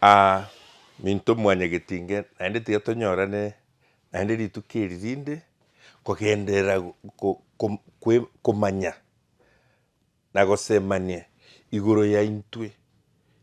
Aa, minto mwanyageti inge, naende tiga tonyorane naende rituko eri rinde, kogenderera go, go, ko, komanya na gosemania igoro yaintwe,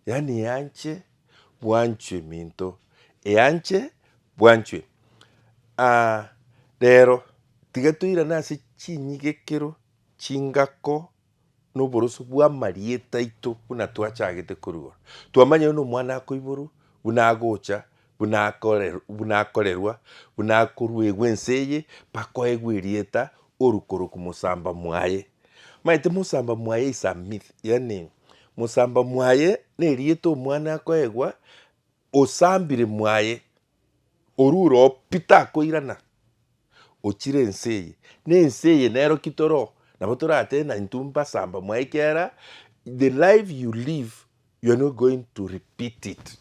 yaani eanche bwanchwe minto, eanche bwanchwe. Aa, rero tiga toirane ase chinyigekero, chingako, noboroso bw'amarieta aito buna twachagete korua, twamanya oyo nomwana akoiborwa, buna agocha, buna akore buna akorerwa, buna akoruegwa ense eye, mpaka oegwe erieta oru koroku mosamba mwaye. Omanyete mosamba mwaye is a myth, yaani mosamba mwaye nerieta omwana akoegwa osambire mwaye orure oo pi takoirana, ochire ense eye, na ense eye nero ki toro oo, nabo toratebe na intwe mbasamba mwaye ekiagera the life you live you are not going to repeat it,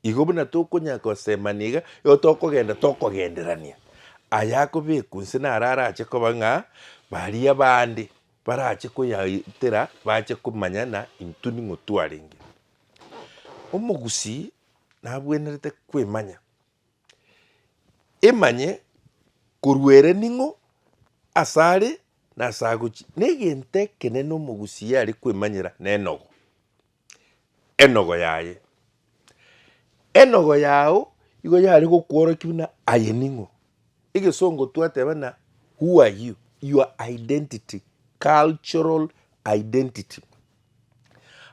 igo buna tokonyara kosemania iga, igo tokogenda tokogenderania aya akobekwa inse naro arache koba ng'a baria abande barache koyaetera bache komanya ng'a intwe ning'o twarenge. Omogusii nabwenerete kwemanya, emanye korwa ere ning'o, asare na asagochia. Na egento ekenene omogusia are kwemanyera nenogo, enogo yaye. Enogo yao igo yare gokworokia buna aye ning'o. Egesongo twateba na who are you, your identity, cultural identity.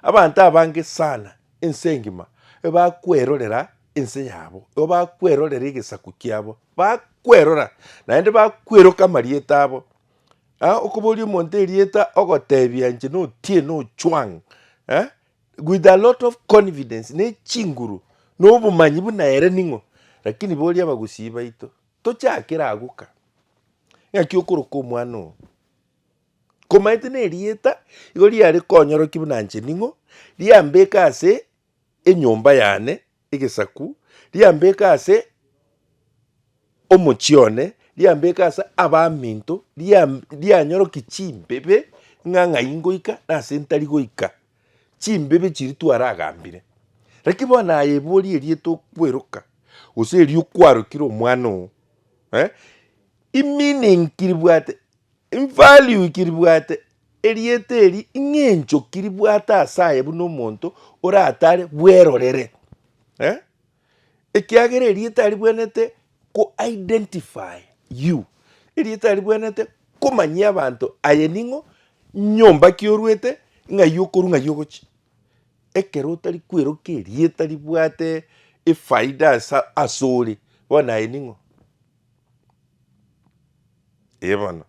Abanto abange sana ense engima ebakwerorera ense yabo, ebakwerorera egesaku kiabo, bakwerora naende bakweroka amarieta abo. Okoboria omonto erieta ogotebia inche na Otieno Ochwang'. With a lot of confidence ne chinguru na obomanyi buna ere ning'o, lakini boria abagusii baito tochakera agwo ka, ng'aki okoroka omwana oo komaete na erieta igo riare konyoroki buna inche ning'o, riambeke ase enyomba yane Egesaku, riambeke ase omochie one, riambeke ase abaminto, rianyorokie chimbebe ng'a ng'ai ngoika na ase ntari goika, chimbebe chiria twaragambire. Naki bono aye ebori eria tokweroka, gose eria okwarokire omwana oo, eh? Emeaning ribwate Invalue ki ribwate erieta eri ing'e enchoki ribwate ase aye buna omonto oratare bwerorere eh? Ekiagera erieta ribwenete ko identify you, erieta ribwenete komanyia abanto aye ning'o, nyomba ki orwete, ng'ai okorwa ng'ai ogochia. Ekero otari kweroka erieta ribwate efaida ase ase ore, bono aye ning'o? Ee bono.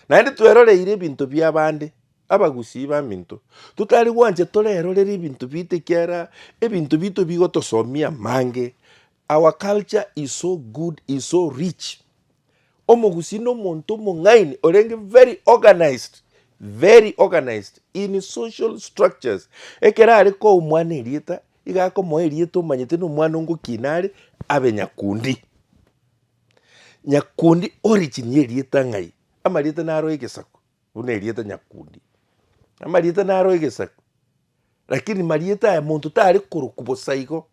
Naende tweroreire ebinto bi'abande, abagusii baminto, totari gwancha torerorere ebinto biaito ekiagera ebinto biaito bigotosomia amange. Our culture is so good, is so rich. Omogusii nomonto omong'aini orenge very organised, very organised in social structures. Ekero are koa omwana erieta, iga akomoa erieta omanyete nomwana ongoki nare abe nyakundi. Nyakundi origin y'erieta ng'ai? Amarieta naroe egesaku, buna erieta Nyakundi. Amarieta naroe egesaku, lakini marieta aya monto tare korokwa bosa igo.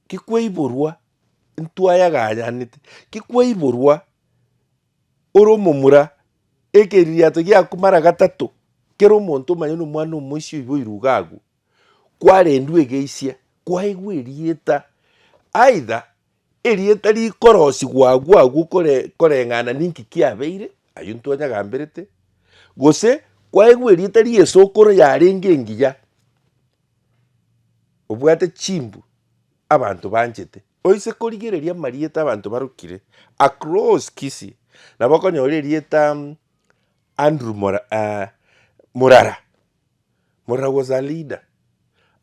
Ki kwaiborwa ntwayaganyanete, ki kwaiborwa ore omomura, ekeriato giaku mara gatato, kera omonto omanyene na omwana omoisia oiba oirwe iga agwo, kwarendwe egeisia, kwaigwa erieta aidha Erieta rikorosigwa agwo agwo koreng'ana ninki kiabeire, ayio ntwanyagamberete, gose kwaegwa erieta ri'esokoro yarenge engiya, obwate chimbu abanto banchete, oise korigereria amarieta abanto barokire across Kisii, nabo okonyora erieta Andrew Murara. Moragwo as a leader,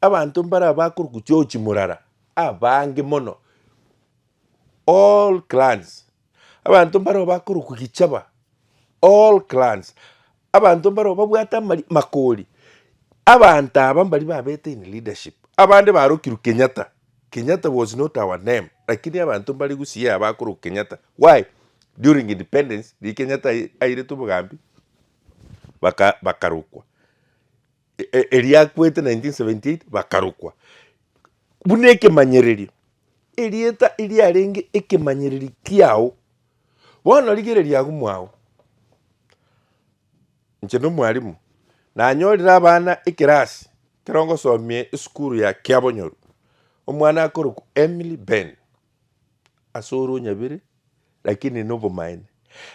abanto mbare abakorokwa chiochi morara abange mono, all clans, abanto mbareo bakorokwa gichaba, all clans, abanto mbareo babwate amari makori, abanto aba mbari babete in leadership, abande barokirwe Kenyatta, Kenyatta was not our name, lakini abanto mbare gusii aba bakorokwa Kenyatta, why? During independence riria Kenyatta airetwe obogambi. baka bakarokwa, e- e- eria akwete 1978 bakarokwa. Buna ekemanyererio, erieta eriarenge ekemanyererio kiao, bono rigereria agwo mwao, inche na omwalimu nanyorire abana ekerasi ekero ngosomia esukuru ya kiabonyoru, omwana akorokwa Emily Ben. ase ore onyabere lakini nobomaene.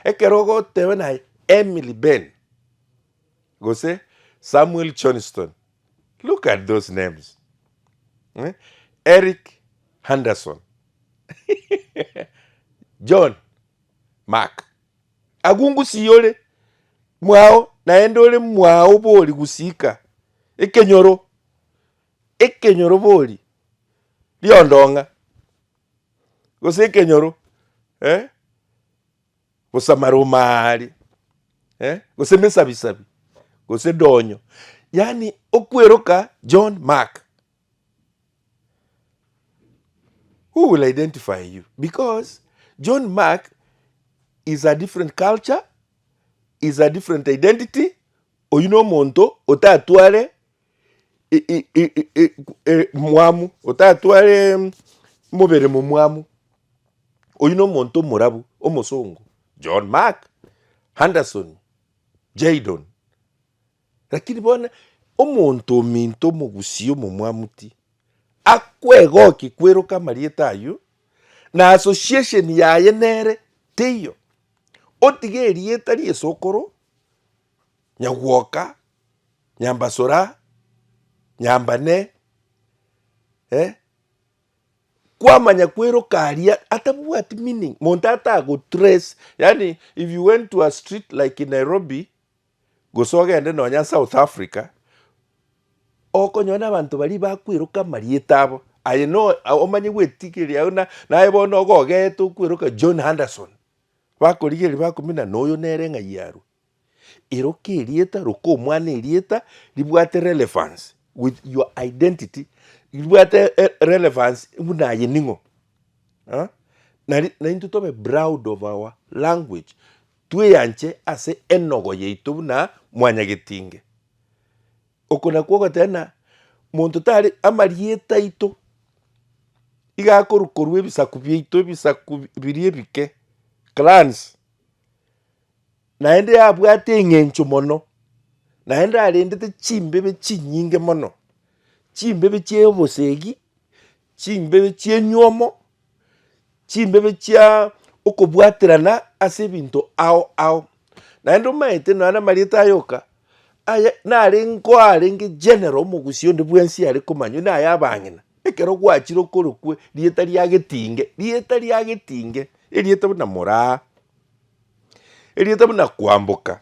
Ekero ogoteeba naye Emily Ben gose Samuel Johnston, look at those names eh? Eric Henderson John Mark agwo ngusii ore mwao naende ore mwao bori gusika ekenyoro. Ekenyorobori riondong'a, gose ekenyoro eh, gose amaruma aya aria eh, gose emesabisabi, gose donyo, yaani okweroka John Mark. Who will identify you? Because John Mark is a different culture, is a different identity, oyio nomonto otatware i- i- i- i- i- e- mwamu otatware mm, mobere momwamu oyu na omonto omorabu omosongo john mark anderson jaidon lakini bono omonto ominto omogusia omomwamu ti akwegokia kweroka amarieta aywo na association yaye nere teiyo otige erieta riesokoro. nyagwoka, nyambasora, nyambane, eh, kwamanya kweiroka aria atabwati meaning, monto atagotrace, yaani if you went to a street like in Nairobi, gose ogende nonya South Africa, okonyora abanto baria bakweiroka amarieta abo, aye no omanye gwetigeria aye buna naye bono ogogeete okweroka John Anderson, bakorigereria bakomenya na oyo nere ng'ai arwe. Eroka erieta roka omwana erieta ribwate relevance with your identity ribwate relevance buna aye ning'o ah nari naintwe tobe proud of our language tweyanche ase enogo yaito buna mwanyagetinge. Oko nakwo ogoteba buna monto tari amarieta aito iga akorwa korwa ebisaku biaito ebisaku biria ebike clans naende yabwate eng'encho mono, naende arendete chimbebe chinyinge mono, chimbebe chia obosegi, chimbebe chia enywomo, chimbebe chia okobwaterana ase ebinto ao ao. Naende omanyete nonya na amarieta aye oka, aye nare ngoa arenge general omogusia onde bwensi are komanywa na aya abang'ina, ekero gwachire okorokwe rieta ria Getinge, rieta ria Getinge, erieta buna moraa. Erieta buna kwamboka,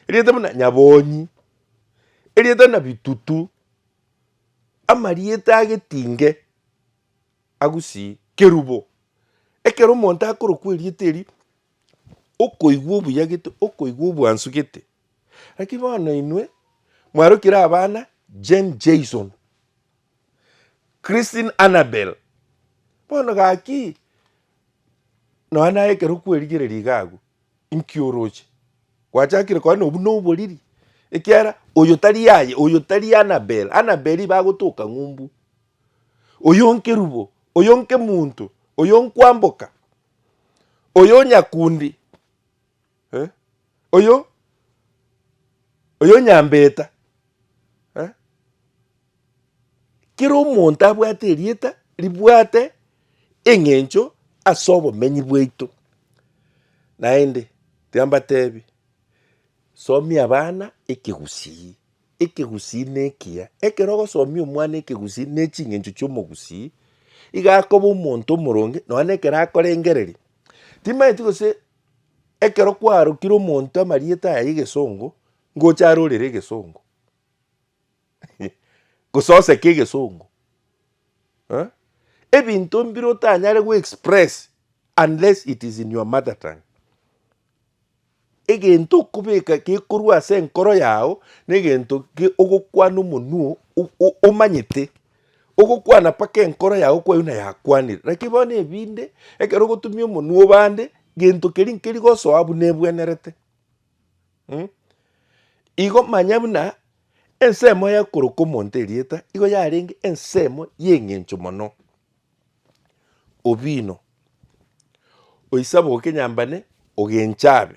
erieta buna nyabonyi, erieta buna bitutu, amarieta agetinge agusii kerubo. Ekero omonto akorokwa erieta erio, okoigwa obuya gete, okoigwa obwansu gete. Lakini bono inwe mwarokire abana Jane Jason. Christine Anabel, Bono gaki nonya naye ekero kwerigereria iga agwo, inki oroche? Gwachakire koba nobwo na oboriri, ekiagera oyo tari yaye, oyo tari Anabel, Anabel iba agotoka ng'umbu, oyo nkerubo, oyo nkemonto, oyo nkwamboka, oyo onyakundi. oyonyambeta. Kera omonto abwate erieta ribwate eng'encho ase obomenyi bwaito. Naende tiga mbatebi, somia abana ekegusii, ekegusii ne ekiya, ekero ogosomia omwana ekegusii ne ching'encho chia omogusii, iga akoba omonto omoronge nonya na ekero akorengereria, timanyeti gose Ekero kwarokire omonto amarieta aya y'egesongo, ngocha arorere egesongo, gose oseke egesongo. Ebinto mbire otanyare go express unless it is in your mother tongue. Egento okobeka gekorwa ase enkoro yao, na egento ogokwana omonwa omanyete. Ogokwana mpaka enkoro yao kwaiuna yakwanire, naki bono ebinde, ekero ogotumia omonwa obande gento keria nkeri gosoa abwo nebwenerete. Mh, igo manya buna ensemo ya koroka omonto erieta igo yarenge ensemo ye eng'encho mono. Obino, oisaboke nyambane ogenchabe.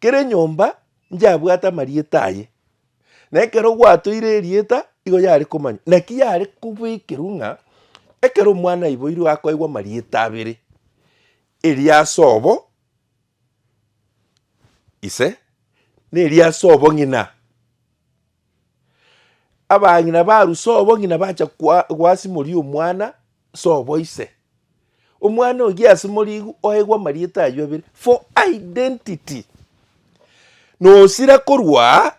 Kera enyomba nchiyabwate amarieta aye, na ekero gwatoire erieta igo yare komanywa. Naki yare kobekerwa ng'a ekero omwana aiboirwe akoegwa amarieta abere, erio ase obo ise, na erio ase obo ng'ina. Abang'ina baru sobong'ina bacha kwa- gwasimorigia omwana sobo ise. Omwana oyio asimorigu oegwa amarieta ayio abere for identity. Nosira korwa aa,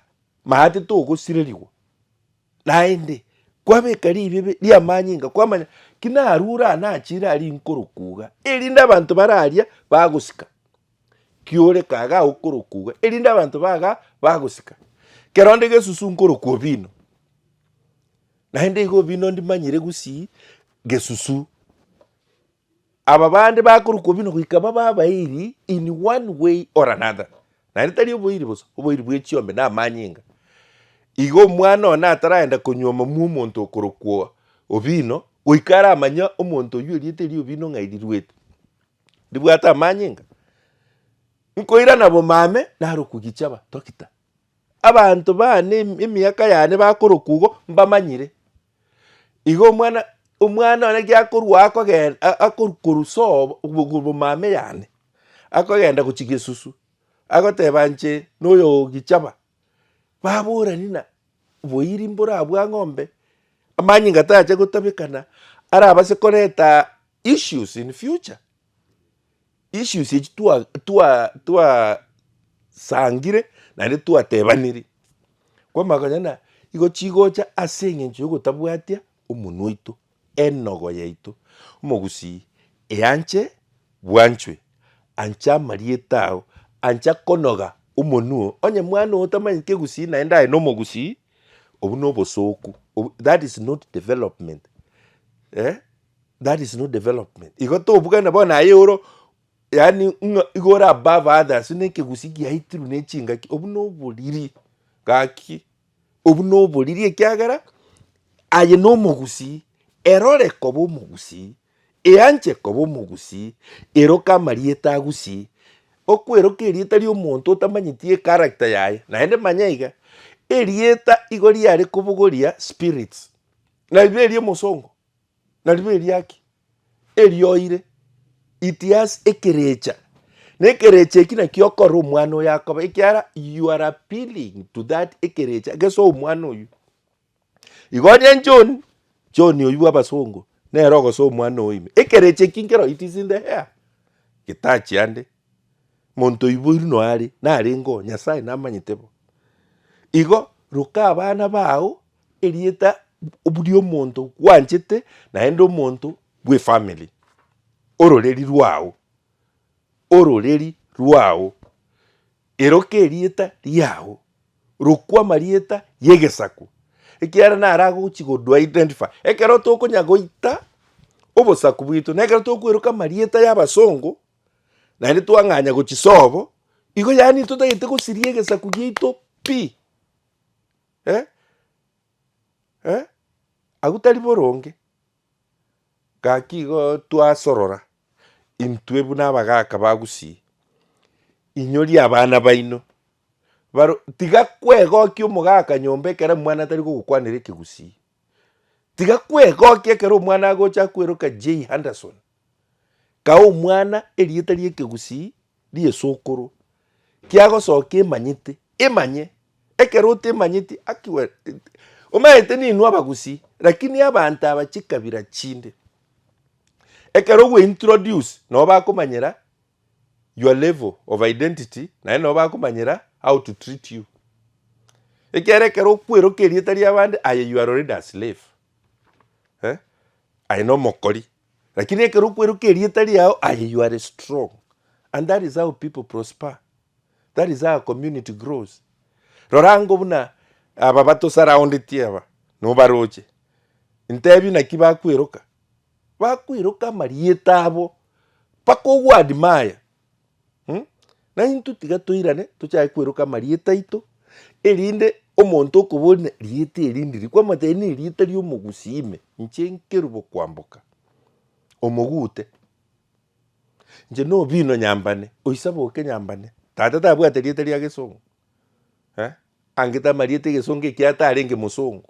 maate togosirerigwa. Naende, kwabeka riibi ebe riamanyinga kwamanya ki narure aa nachiire aa rinkoro kuuga, erinde abanto bararia bagosika. ki'orekaya gagokorokugwa, erinde abanto baga bagosika. Kera onde gesusu nkorokwa obino, naende igo obino ndimanyire gusii gesusu. Aba bande bakorokwa obino goika babe abairi in one way or another, naende tari oboiri bosa, oboiri bwe chiombe na amanyinga. Igo omwana oyo nataragenda konyuoma mwa omonto okorokwa obino, goika aramanye omonto oywo erieta erio obino ng'a erirwete. ndibwate amanyinga, nkoirana bomame narokwe gichaba Dokita. Abanto baane em- emiaka yane bakorokwa igo mbamanyire. Igo omwana omwana one giakorwa akogen a- akorwa korwa sobo obo bomame yane, akogenda gochia gesusu, agoteba inche noyo oo gichaba, baborani na boiri mborabwa ng'ombe, amanyinga tacha gotabekana, arabase koreta Issues in future, issues echi twa twa twasangire naende twatebaniri kwamanya konya na igo chigocha ase eng'encho ya ogotabwatia omonwa oito, enogo yaito. Omogusii eanche bwanchwe, anche amarieta ao, anche konoga omonwa oo, onye mwana oo otamanyeti egusii naende aye nomogusii, obwo na obosoku, that is not development eeh. That is not development. Igo tobugana bono aye oro yani ng'a igo ore above others ne ekegusi giaitiru ne chingaki obu no oboriri gaki obu no oboriri ekiagera aye no omogusi erore koba omogusi eanche koba omogusi eroke amarieta agusie okweroka erieta ria omonto otamanyeti echaracter yaye naende manya iga erieta igo riare kobogoria spirits na ribe eria omosongo Narirobi eriaki erioire, it has ekerecha, na ekerecha eki naki okore omwana oyo akoba, ekiara you are appealing to that ekerecha gese omwana oyo. Igo onye John, John oyo bwa abasongo, nere ogosa omwana oyo ime. Ekerecha eki nkero it is in the air, getachi ande. Monto oiboiru noare, narenge oo, Nyasae namanyete bo. Igo roka abana bao erieta riomonto gwanchete naende omonto bwefamily, ororeri rwao, ororeri rwao, eroka erieta riao, rokwa amarieta yegesaku, ekiagera naro agochi kodu identify. Ekero tokonya goita obosaku bwaito, nekero tokweroka amarieta ya abasongo. naende twang'anya gochisobo, igo yaani totagete gosiria egesaku giaito pi. Eh? Eh? Agwo tari boronge. Gaki igo twasorora intwe buna abagaka ba Gusii, inyoria abana baino baro tiga kwegokia omogaka nyomba ekero omwana atari gogokwanera ekegusii. Tiga kwegokia ekero omwana agocha kweroka Jay Henderson, kae omwana erieta ri'ekegusii ri'esokoro kiagosokia emanyete, emanye. Ekero otemanyeti aki we omanyete ninwe abagusii lakini abanto aba chikabira chinde ekero ogwe introduce nabo bakomanyera. your level of identity naende nabo bakomanyera how to treat you. Ekiagera ekero okweroka erieta ri'abande aye you are already a slave. Eh? Aye nomokori. Lakini ekero okweroka erieta riao aye you are strong. And that is how people prosper. That is how a community grows. Rora ngo buna aba batosurroundetie aba nobaroche. Ntebi naki bakweroka. Bakoiroka amarieta abo, bakogwadima aya, mm, na intwe tiga toirane tochake koiroka amarieta aito, erinde omonto okoboria rieta eri ndiri, kwamotebia ne rieta ria omogusii ime, inche nkerubo kwamboka, omogute, inche no obino nyambane, oisaba oke nyambane, tata tabwate rieta ria gesongo, eh, angete amarieta egesongo ekio atarenge mosongo.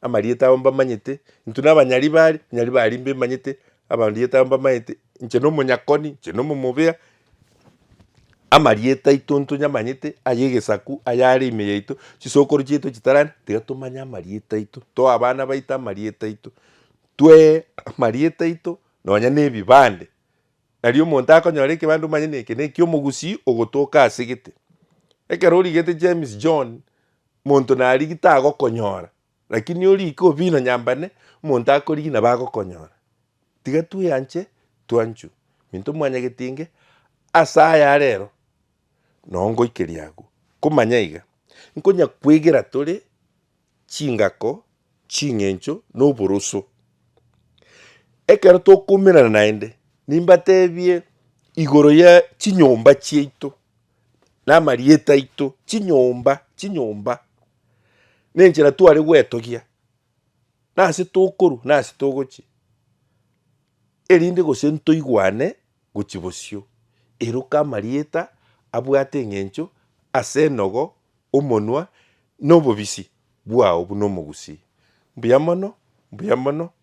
Amarieta abo mbamanyete, intwe nabanyari bare, abanyari baria mbemanyete, amarieta abo mbamanyete, inche nomonyakoni, inche nomomobea, amarieta aito ntonyamanyete, ay'egesaku, ayare ime yaito, chisokoro chiaito chitara ande, tiga tomanye amarieta aito, toa abana baito amarieta aito, twee amarieta aito nonya na ebibande. Nari omonto akonyora ekebande omanye na eke na eki'omogusii ogotoka asegete. Ekero origete James John, Monto narigi tagokonyora, lakini origi kobina nyambane, omonto akorigi nabo agokonyora. Tiga tweanche twanchu minto mwanyagete inge ase aya arero, nao ngoikeria agwo. Komanya iga, nkonya kwegera tore chingako, ching'encho, na oboroso. Ekero tokoumerana naende, nimbatebie igoro ya chinyomba chiaito. namarieta aito, chinyomba chinyomba, na enchera tware gwetogia, nase tokorwa nase togochia, erinde gose ntoigwane gochia bosio. Eroka amarieta abwate eng'encho ase enogo, omonwa, na obobisi bwao buna omogusii. Mbuya mono, mbuya mono,